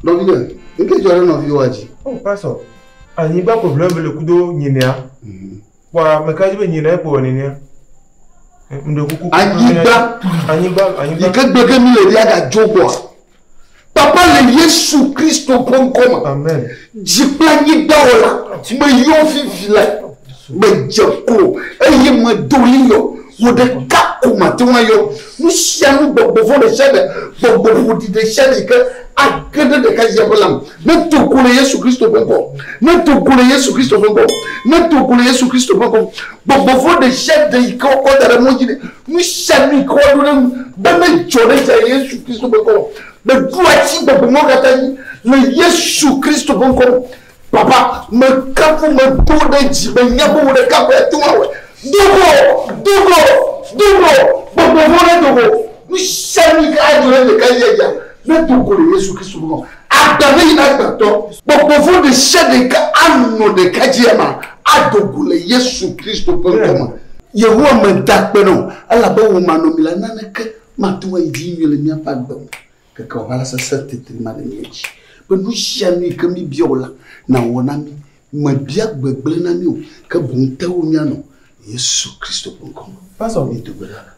Nɔviɖe, nu ke dzɔ ɖe nɔviwoa dzi? O, oh, pasɔ, anyigba ko ʋlẽ vele kudo nyinɛa. Mm. Kpɔa meka dzi be nyi na ekpɔ nenea. Anyigba yi ke gbe ge mi le ɖia ga dzo gbɔa. Papa le Yesu Kristo ƒe ŋkɔ me. Dzi kple anyigba wɔ la me yɔ vivi la me dze klo eye me do li yɔ Wò ɖeka ko mate ŋu ayɔ nu sia nu gbɔgbɔ vɔ̃ ɖe sia ɖe, gbɔgbɔ ƒoɖi ɖe sia ɖe yi ke age ɖe ɖekadzia ƒe lãme. Nedo go le Yesu Kristo ƒe ŋkɔ. Nedo go le Yesu Kristo ƒe ŋkɔ. Nedo go le Yesu Kristo ƒe ŋkɔ. Gbɔgbɔ vɔ̃ ɖe sia ɖe yi ke wokɔ da ɖe mɔ dzi ɖe, nu sia nu yi ke woaɖo ɖe eŋu be nedzɔ ɖe esia le Yesu Kristo ƒe ŋkɔ me. Meɖo asi gbɔgbɔ mawo katã dzi le Yesu Kristo ƒe ŋkɔ me. Papa, mekafu, medo ɖe dzi be nya bubu ɖeka koe ate ŋu awɔe. Do go! Do go! Do go! Gbɔgbɔ vɔ̃ nedo go! Nu sia nu yi ke adzɔ ɖe ɖekadzia dzia, nedo go le Yesu Kristo ŋkɔ. Agbe me yi na gbetɔ. Gbɔgbɔ vɔ̃ ɖe sia ɖe yi ke anɔ ɖekadzia me ado go le Yesu Kristo ƒe ŋkɔ me. Yehowa meda akpe na wò, elabe wò manɔmela naneke mate ŋu ayi dzi nyuie le míaƒe agbe me. Keke wò aʋala sesẽ titri ma ɖe mía dzi, be nu sia nu yi ke míebia wò la, nàwɔ na mí. Mèbia gbegblẽ na mí o, ke boŋ te wo míanɔ le Yesu Kristo ƒe ŋkɔ me. Woazɔ míedo gbe ɖa le.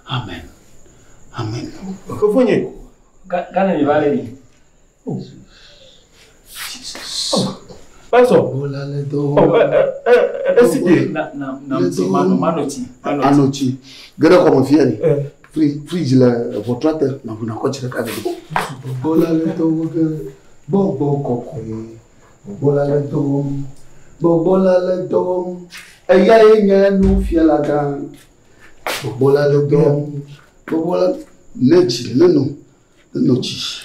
Amen. Amen. Fofonye, ga, gane meva lé mi. Pastor. Bola le dɔ wɔm. Oh, eh, eh, eh, eh esi de. Na, na, na, ti, mano, mano ti. Ano ti. Gere kɔmɔ fia ni. Fridge le ʋɔtrɔ te, na ʋuna kɔ tsi ɖeka ɖe. Bola le dɔ wɔm ke gbɔgbɔ kɔkɔe. Bola le dɔ wɔm. Gbɔgbɔ la le dɔ wɔm. Eya ye nye nufiala gã. Gbɔgbɔ la le dɔ wɔm. Gbɔgbɔ la le dzi le no. Le no dzi.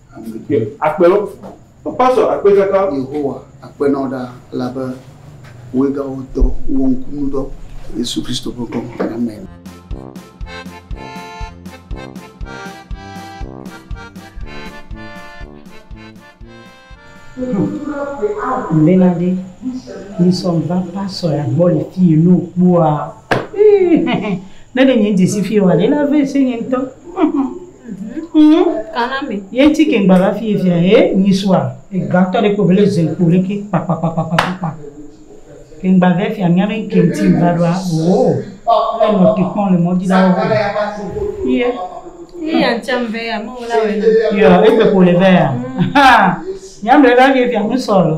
Akpe lɔ. Papa sɔ akpe kaka. Yehowa, akpe na wò ɖaa, elabe wòe gawɔ dɔ, wò ŋkunudɔ, le Yesu Kristo ƒe ŋkɔ me. Amen. Benadi, mi sɔ va pastor ya gbɔ le fi yi ne wokpɔa. Ne ɖe nye dzi si fi wa ɖe la vɛ se nye ŋutɔ. Ŋu kana me. Ye ti ke ŋgbava fi ye fia he nyi sua ega tɔ ɖe kpo bele zen kpo ɖe ke kpa kpa kpa kpa kpa kpa. Ke ŋgbava fia mia be ŋke ŋti ŋva ɖoa oo le nɔ te kpɔ le mɔ dzi ɖa wo. Ye. Ye ya ŋti ŋve ya mɔ wo la wena. Yo egbe kpo le vɛ ya. Haa. Mia mle va fi ye fia ŋsɔ lo.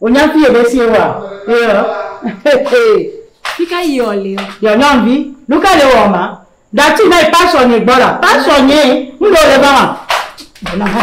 Wonya fie ɖe sie wa? Fika yi ɔ le ɔ? Yɔ nyɔnvi, nuka le wɔ ma? Dati na yi pasɔ nye gbɔ la, pasɔ nye, nu ɖe le va ma. Bona ha.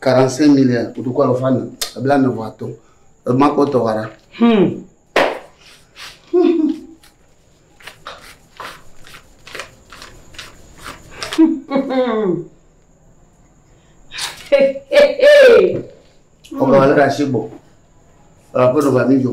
45 millions kotoku alafa ene ebla ene vɔ atɔ̃ ema kpɔtɔ wa ɖa. Hmm. ọba alẹ́ ra ṣe bọ̀ ọ̀rọ̀ àpọ̀dọ̀ bàmí jọ.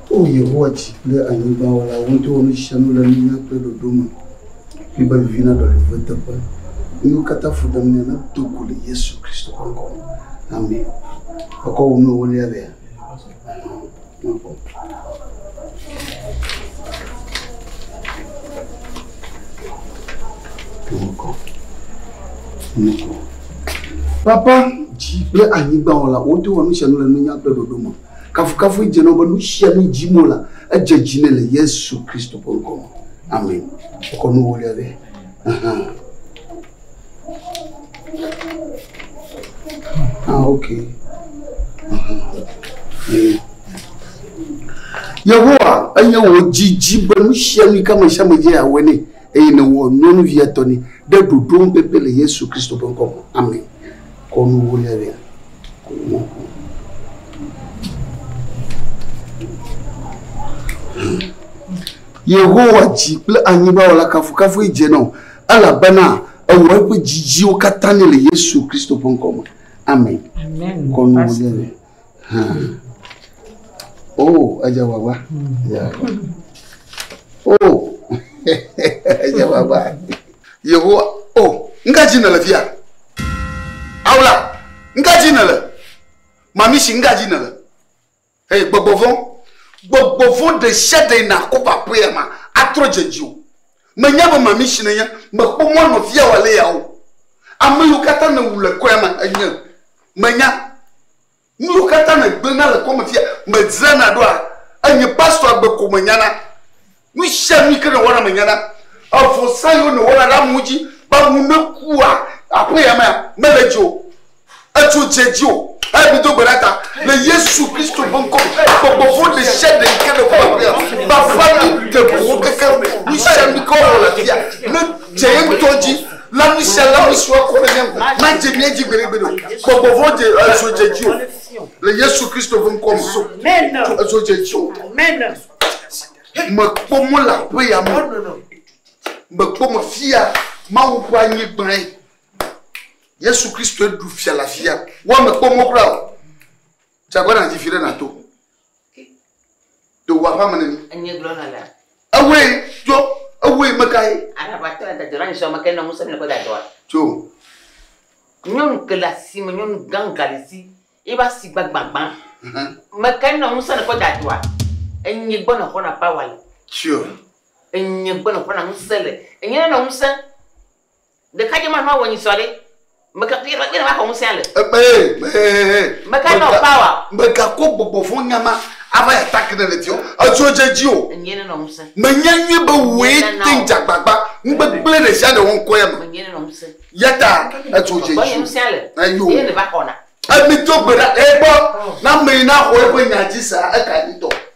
O Yehowa, dzi kple anyigba wɔla, wò ŋutɔe wɔ nu sia nu le nunya kple ɖoɖo me. Ƒi be vivi naɖɔ le wò teƒe. Nuyiwo katã fuɖemea, nado go le Yesu Kristo ƒe ŋkɔ me. Amen. Èkɔ wò nu ewolia lea? Ɔhɔn. Nakpɔ. Nakpɔ. Nakpɔ. Papa, dzi kple anyigba wɔla, wò ŋutɔe wɔ nu sia nu le nunya kple ɖoɖo me. Kafukafu edze nɔ be nusianu dim wolea, edze dzi nɛ le Yesu Kristo ƒe ŋkɔ me. Amen. Wokɔ nu ewolia ɖe. Ahan. Ah, ok. Ahan. Yehowa enye wò dzidzi be nu sia nu ka me sia me dze awɔe nɛ eye nèwɔ nyɔnuvia tɔ nɛ ɖe ɖoɖo ŋpɛpɛ le Yesu Kristo ƒe ŋkɔ me. Amen. Yehowa dzi kple anyigba wɔ la kafukafui dze nɔ, elabena ewɔ eƒe dzidziwo katã nɛ le Yesu Kristo ƒe ŋkɔ me. Amen. Amen. Kɔnuwuwulia. Oh, aja baba. Yeah. Oh, aja baba. Yehowa, oh, nga dzi nèle fia. Awla, nga dzi nèle. Mamisi, nga dzi nèle. Hey, gbɔgbɔ vɔn. Gbɔgbɔ vɔn ɖe sia ɖe yina ko papoea ma, atrɔ dze dzi o. Menya be mamisi nenye, mekpɔ mɔ nɔvia wòalé ya o. Ame yiwo katã nèwu le kɔe ma enye. Menya nuyiwo katã nègblẽna le kɔme fia. Medzrana ɖoa? Enye pastor agbe ko menyana. Nusianu yike nèwɔna menyana. Evɔsa yiwo nèwɔna ɖe amewo dzi be amewo nekua, aƒe ya mea, mele edzi o. Edzo dze edzi o. Eya mido gbe ɖa ta le Yesu Kristo ƒe ŋkɔ me. Gbɔgbɔ vɔ̃ ɖesiaɖe yike neku aƒea, baba mi ɖe ʋu wo kekeŋ. Nusianu yike wowɔ le afia, ne. dze ye ŋutɔ dzi le nu sia le nu si wòakɔ ɖe mía ŋu madze mía dzi gbeɖegbeɖe o. Gbɔgbɔ vɔ̃ dze ezo dze dzi o le Yesu Kristo ƒe ŋkɔ me. Ezo dze dzi o. Mekpɔ mo le aƒe ya me. Mekpɔ mo fia Mawu ƒe anyigbae. Yesu Kristo ɖu fia le afia. Woa mekpɔ mo kura o. Dze agbagba nàdzi fi ɖe nàto. Do wa ƒame ne mi. Enye gblɔ na la. Ewe jo ewe me ka ye. Araba tɔ da dɔla nzɔ me ke na ŋusem le ko da dɔa. Jo. Nyɔnu ke le asime nyɔnu gã galisi ye ba si gba gbagba. Me ke na ŋusem le ko da dɔa. Enye gbɔ na xɔna power le. Jo. Enye gbɔ na xɔna ŋusem le. Enye na ŋusem. Ɖekadze ma nɔa wɔnyi sɔɖe. Meka kpe kpe ne maxɔ ŋusẽa le. Ekpee kpee. Meka nɔ power. Megakɔ gbɔgbɔ vɔ̃ nya ma ava ya ta ke ne le diɔ, edzo dze dzi o. Enyee nenɔ ŋusẽ. Menya nyuie be wòe te ŋu dze agbagba ŋugbegblẽ ɖe sia ɖe wɔŋkɔea me. Enyee nenɔ ŋusẽ. Ya ta edzo dze dzi o. Gbɔnye ŋusẽa le. Eyo. Eye nèva xɔna. Emi do gbe ɖa. Egbɔ, ne ame yi naxɔ eƒe nya dzi sea, eka nyi tɔ.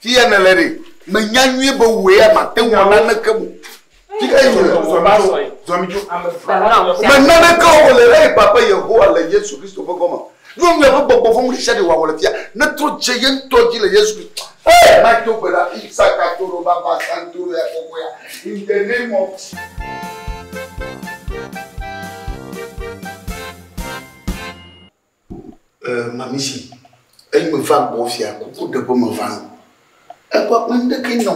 Fi ya nèle ɖe? Menya nyuie be wò ya màte ŋu awɔ naneke o. Fi ka yim nèle? Zɔ va sɔe. Zɔ mi dzo. Me naneke wɔm le eyi Papa Yehowa le Yesu Kristo ƒe gɔme. Nyɔ nyuie be gbɔgbɔ vɔ̃ ŋuɖesiaɖe wòawɔ le fi ya. Netrɔ dze ye ŋutɔ dzi le Yesu Kristo. Hey! Mato gbe ɖa fi sakatoro baba santoro ya kɔkɔea in the name of Jesus. Eh, mamisi, eyi me va gbɔ fia kuku ɖe ƒe me va nɔ. Ekpɔ kpɔ nu ɖeke nyɔ.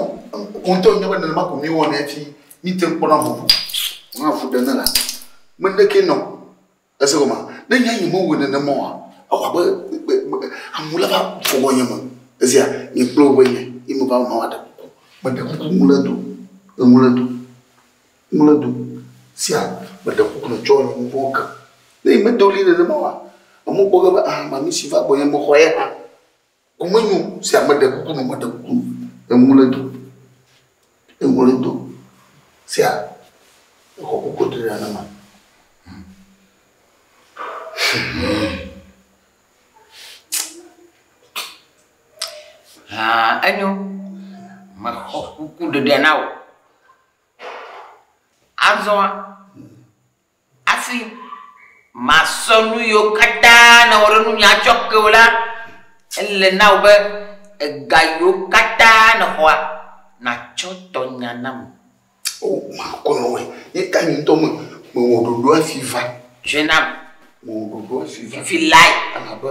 Ŋutɔ nyɔ be nenema ko mi wɔ ne fi mi te kpɔ na ŋu. Ŋa fu ɖe ne la. Me ɖeke nyɔ. Ese ko ma. Ne nya yi me wo nenema wa. Awa be amu la va fɔgɔ nyɔ me. Ezia ni kplo be yi me va ma wa ɖe. Me ɖe kuku ŋu le do. Ŋu le do. Ŋlɔ do sia meɖe kuku nɔ tsɔ nyi vɔn ke. Ne yi medo li nene ma wa, amo kpɔ ge be aha ma mi si va gbɔ nye me xɔ ye hã. Ku me nyo sia meɖe kuku nɔ meɖe kuku nɔ. Eŋlɔ do, eŋlɔ do sia exɔ kuku ɖe nene ma. Haa enyo, me xɔ kuku ɖeɖe na wo. Azɔ hafi masɔ nu yiwo katã nèwɔ ɖe ŋunye atsɔ ke wò la, ele na wò be ega yiwo katã nèxɔa, nàtsɔ tɔ nya nam. O, makɔ nɔe. Nye ta nye ŋutɔ me, mewɔ ɖoɖo hafi va. Tsɔe nam. Mewɔ ɖoɖo hafi va. Fifi lae. Elabe.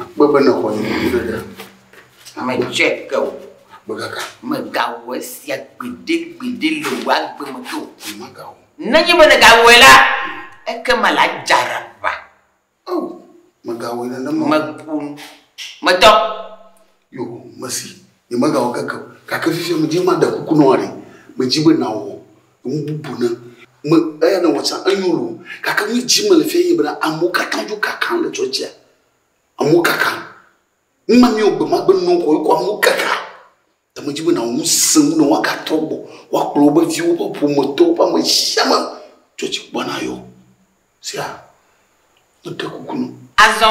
Akpɔe be nèxɔ nye nuɖuɖu ɖe. Metsɔe ke o. Akpɔe kaka. Mègawɔ esia gbeɖegbeɖe le wò agbe me ke o. Nyemagawɔ. Nenye be nègawɔe la, ekema la adze aɖaʋa. O, mègawɔe nenema o. Meƒo nu. Metɔ. Yoo, mesi. Nyemegawɔ keke o. Gake fifia medi be maɖe kuku na wò aɖee. Medi be nàwɔ nu bubu na me. Eya nèwɔ tsã, enyo loo. Gake nu si dim mele fiae nye bena amewo katã dzo kaka le tsɔtsea. Amewo kaka. Nu ma míewɔ gbe ma gbe nɔkɔ wokɔ amewo kaka. Ta medi be nàwɔ nu sesẽ wu ne woagatrɔ gbɔ, woakplɔ woƒe viwo, woƒe ƒometɔwo, woƒe ame sia ame tsɔtsi kpɔa nayɔ. Sea? Meɖe kuku na wò. Azɔ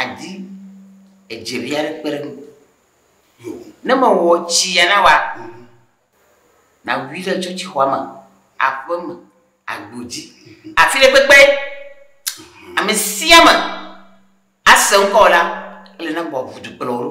Àdi edze vi aɖe kpe ɖe ŋu. Ne mewɔ tsi ya na wòa? Nàwui ɖe tsɔtsixɔa me, aƒe me, agbo dzi, afi ɖe kpekpe. Ame sia ame ase ŋkɔwò la, ele na wò ʋudu kplɔwo ɖo.